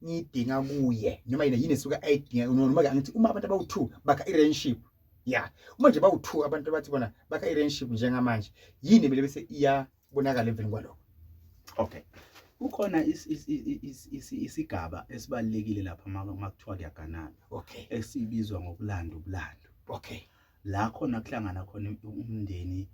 ngiyidinga kuye noma yini yini esuke ayidinga noma ke angithi uma abantu abawu2 bakha irelationship yeah uma nje bawu2 abantu abathi bona bakha irelationship njengamanje yini bele bese iyabonakala emveni kwaloko okay kukhona isigaba esibalekile lapha makuthiwa kuyaganana okay esibizwa ngokulanda ubulando okay la khona kuhlangana khona umndeni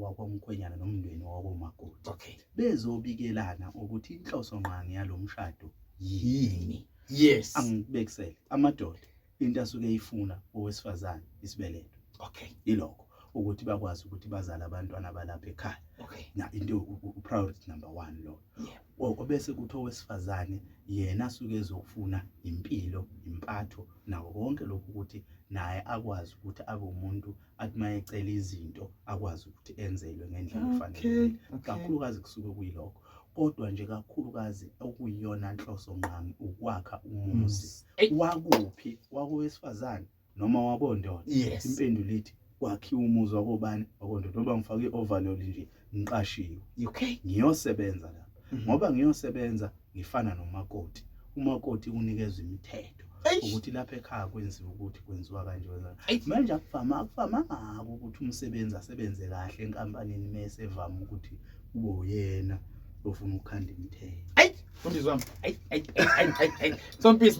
wakwamkhwenyana nomndeni wakomakoti okay bezobikelana ukuthi inhloso nqangi yalomshado yini yes angibekisele amadoda into asuke eyifuna owesifazane isibeletho okay ilokho ukuthi bakwazi ukuthi bazale abantwana balapha ekhaya okay na into upriority number 1 lo yeah. Gogo bese kuthi owesifazane yena asuke ezofuna impilo, impatho nawo konke lokhu ukuthi naye akwazi ukuthi abe umuntu athi uma ecela izinto akwazi ukuthi enzelwe ngendlela efanele kakhulukazi kusuke kuyilokho kodwa nje kakhulukazi okuyiyona nhloso nqami ukwakha umuzi wakuphi wakowesifazane noma wakondoda yes. impendulo ithi kwakhiwa umuzi wakobani wakondoda ngoba ngifake i-overload nje ngiqashiwe okay ngiyosebenza la mm -hmm. ngoba ngiyosebenza ngifana nomakoti umakoti unikeza imithetho ukuthi lapha ekhaya kwenziwa ukuthi kwenziwa kanje manje akuvama akuvama ngako ukuthi umsebenzi asebenze kahle enkampanini mese evama ukuthi kube uyena ofuna ukukhanda imithetho ayi fundizwami ayi ayi ayi ayi ayi sompisi